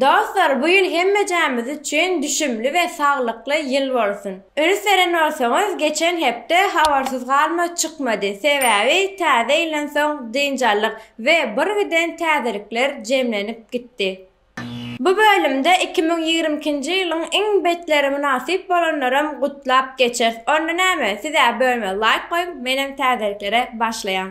Dostlar bu ýyl hemmejämiz üçin düşümli we saglykly ýyl bolsun. Üns beren bolsaňyz geçen hepde habarsyz galma çykmady sebäbi täze ýyldan soň dynç aldyk we birgiden täzelikler jemlenip gitdi. Bu bölümde iki müň ýigrimi ikinji ýylyň iň betleri mynasyp bolanlaram gutlap geçeris onda näme sizä bölme laýk goýuň menem täzeliklere başlaýan.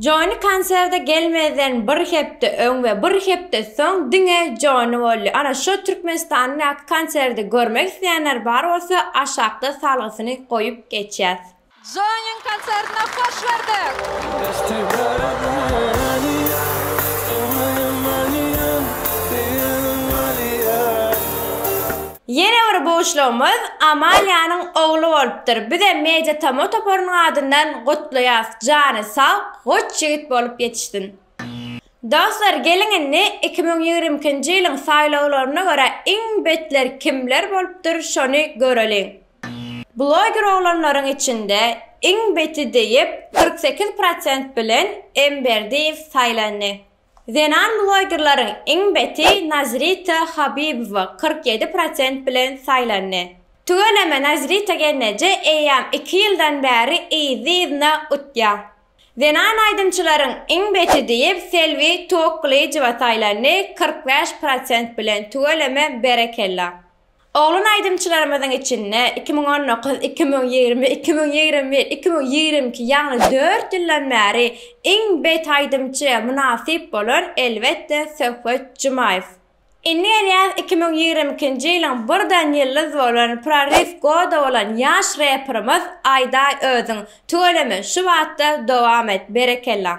Jony konserde gelmezden bir hepde öň we bir hepde soň diňe Jony boldy. Ana şo Türkmenistandaky konserde görmek isleýänler bar bolsa aşakda salgysyny goýup geçýäs. Jonyň konsertine hoş gördik. Ýene bir buşlugymyz Amaliýanyň ogly bolupdyr. Bizem Media Tamo toparynyň adyndan gutlaýas. Jany sag, goç ýigit bolup ýetişsin. Dostlar geliň indi iki müň ýigrimi ikinji ýylyň saýlawlaryna görä iň betler kimler bolupdyr şony göreliň. Bloger oglanlaryň içinde iň beti diýip kyrk sekiz prosent bilen M Berdiýew saýlandy. Zenan blogerleriň iň beti Nazrita Habibowa kyrk ýedi prosent bilen saýlandy. Tüweleme Nazrita gelneje eýýäm iki ýyldan bäri yzly-yzyna utýar. Zenan aýdymçylaryň iň beti diýip Selbi Toklyjowa saýlandy kyrk bäş prosent bilen tüweleme berekella. Oglan aýdymçylarymyzyň içinde iki müň on dokuz, iki müň ýigrimi, iki müň ýigrimi bir, iki müň ýigrimi iki ýagny dört ýyldan bäri iň bet aýdymçy mynasyp bolan elbetde Söhbet Jumaýew. Indi gelýäs iki müň ýigrimi ikinji ýylyň birden ýyldyz bolan prorif goda bolan ýaş reperimiz Aýdaý özüň. Tüweleme şu batda dowam et. Berekella.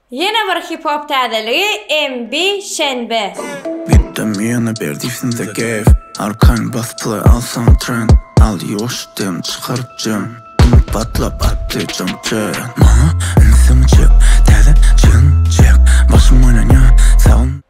Ýene bir hip hop täzeligi MB Şenbe. Gitdim ýene berdi sende gef Arkan bas play alsaň trend Al ýuwaş dem çykaryp jem Dim patlap atdy jam jem Maňa insin çek Täze çigin çek Başym oýlanýa Sag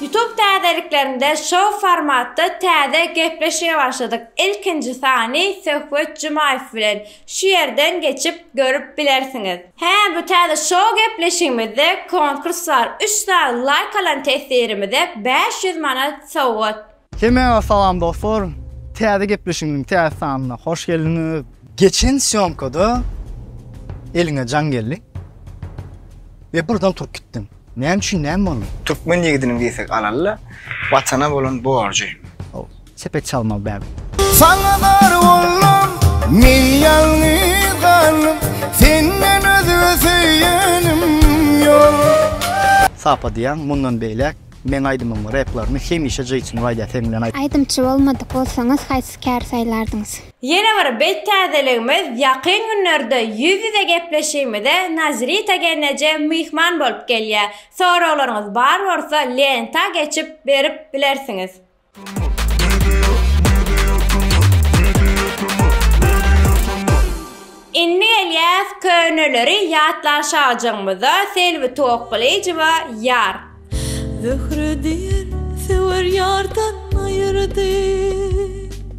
Youtube täzeliklerinde şou formatda täze gepleşige başladyk ilkinji sany Söhbet Jumaýew bilen şu ýerden geçip görüp bilersiňiz. Hä bu täze şou gepleşigimizde konkurs bar üç sany laýk alan testirimize bäş ýüz manat sowgat. Hemmäňize salam dostlar! Täze gepleşigimiziň täze sanyna hoş geldiňiz! Geçen sýomkada eliňe jaň geldi we birden turup gitdiň. Näme üçin, näme boldy? Türkmen ýigidiniň diýsek alalla Watana bolan borjy. Hoo, sepet çalmaly däl. Saňa zar boldum, men ýalňyz galdym, senden özge söýenim ýok. Sapa diýýän mundan beýläk Meň aýdymyň replaryny hemişe Jason William sen bilen aýt. Aýdymçy bolmadyk bolsaňyz haýsy käri saýlardyňyz? Ýene bir bet täzeligimiz ýakyn günlerde ýüz ýüze gepleşigimize Nazrita gelneje myhman bolup gelýär. Soraglaryňyz bar bolsa lenta geçip berip bilersiňiz. Indi gelýäs köneleri ýatlanşajagymyza Selbi Toklyjowa Ýar. Zöhre diýen söwer ýardan aýyrdy.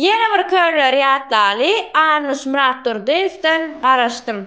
Ýene bir körler ýatlaly Anuş Myratdurdyýewden garaşdym.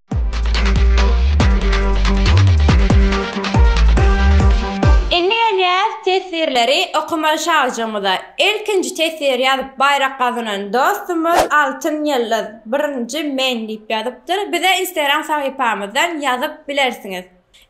Indi gelýäs teswirleri okamaly şagjygymyza. Ilkinji teswiri ýazyp baýrak gazanan dostumyz Altyn ýyldyz, birinji men diýip ýazypdyr. Bize Instagram sahypamyzdan ýazyp bilersiňiz.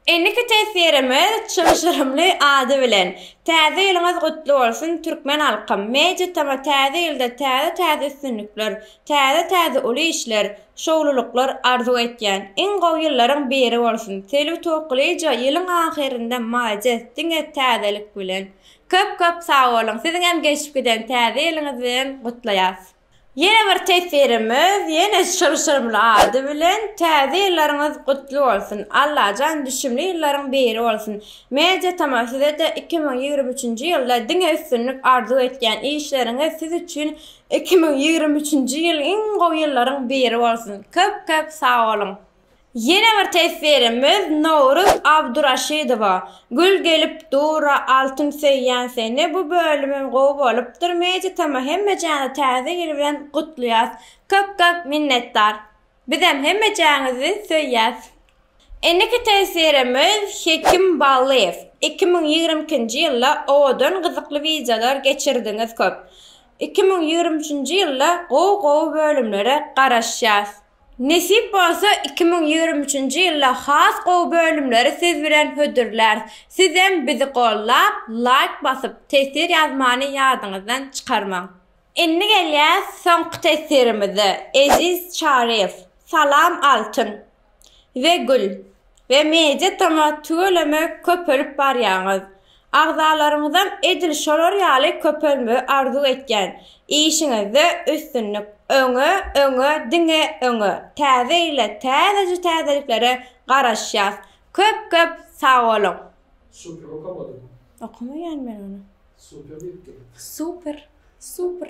Indiki teswirimiz çylşyrymly ady bilen, Täze ýylyňyz gutly bolsun, türkmen halkym! Media Tama täze ýylda täze-täze üstünlikler, täze-täze uly işler, şowlulyklar arzuw etýän. Iň gowy ýyllaryň biri bolsun! Selbi Tokulyja ýylyň ahyrynda malades diňe täzelik bilen. Köp köp sag boluň. Siziňem geçip giden täze ýylyňyz bilen gutlaýas. Ýene bir teswirimiz ýene çylşyrymly ady bilen Täze ýyllaryňyz gutly bolsun! Allajan düşümli ýyllaryň biri bolsun! Media Tama sizede iki müň ýigrimi üçünji ýylda diňe üstünlik arzuw etýän işleriňiz siz üçin iki müň ýigrimi üçünji ýyl iň gowy ýyllaryň biri bolsun! Köp köp sag boluň! Ýene bir teswirimiz Nowruz Abduraşydowa, Gül gelip dura altyn söýýän seni bu bölümem gowy bolupdyr Meditama hemmejäni täze ýyl bilen gutlaýas köp köp minnetdar bizem hemmejäňizi söýýäs. Indiki teswirimiz Hekim Ballyýew, iki müň ýigrimi ikinji ýylda owadan gyzykly wideolar geçirdiňiz köp iki müň ýigrimi üçünji ýylda gowy gowy bölümlere garaşýas. Nesip bolsa iki müň ýigrimi üçünji ýylda has gowy bölümleri siz bilen hödürläris. Sizem bizi gollap, laýk basyp, tesir ýazmany ýadyňyzdan çykarmaň. Indi gelýäs soňky tesirimize, Eziz Çaryýew, Salam Altyn we Gül. we media tomy tüweleme köpelip barýaňyz. Agzalaryňyzam edil şolar ýaly köpelmegi arzuw etýän. Işiňizde üstünlik. Öňe, öňe, diňe öňe. Täze ýyla täzeje täzeliklere garaşýas. Köp köp sagboluň. Super okamadym. Okamaýan men ony. Super diýipdim. Super. Super.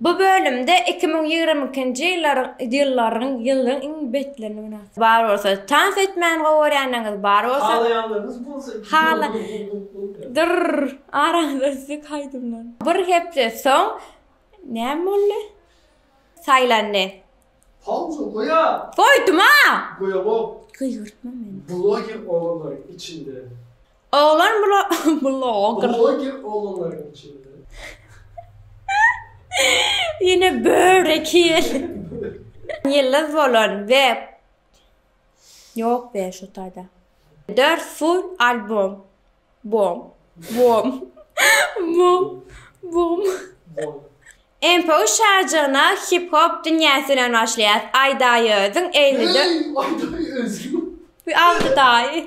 Bu bölümde iki müň ýigrimi ikinji ýyllaryň ýylyň iň betlerini günäkär. Bar bolsa, tans etmäni gowy görýänleriňiz bar bolsa, Halaýanlarňyz bolsa, hala Dyrr, araňyza üsdük aýdymlar. Bir hepde soň näme boldy? Saýlandy. Pauza goýa! Goýdum-a! Goýamok. Gygyrtma meni. Bloger oglanlaryň içinde Oglan bloger. Bloger oglanlaryň içinde. Ýene börek ýeli. Ýyldyz bolan we Ýok be şu taýda. Dört full albom. Bom. Bom. Bom. Bom. Empo şajyna hip hop dünýäsi bilen başlaýar. Aýdaýyzyň 54. Aýdaýyz. Bu aldy daýy.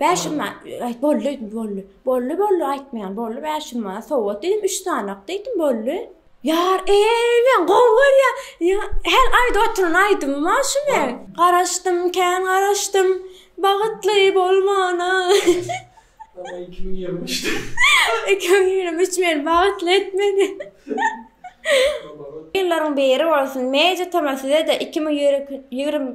Bäş ýyl man, aý, boldy öýdüm, boldy. Boldy, boldy, aýtmaýan, boldy, bäş ýyl man, sowgat diýdim, üç sanak diýdim, boldy. Ýar, eý, men gowy görýän, ýa, hel aýda oturan aýdymym-a şu men. Garaşdym, kän garaşdym, bagytly bolmana. Ýa, iki müň ýigrimi üçde. Iki müň ýigrimi üç meni bagytly etmedi. Ýyllaryň biri bolsun, Media tama size-de iki müň ýigrimi.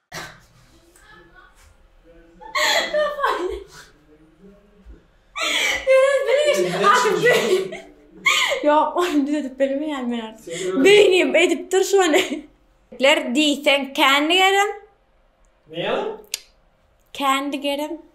Ýok, ony düzedip bilmeýän men artık. Beýnim edip dur şony. Ler diýseň kendi gerem. Näme? Kendi gerem.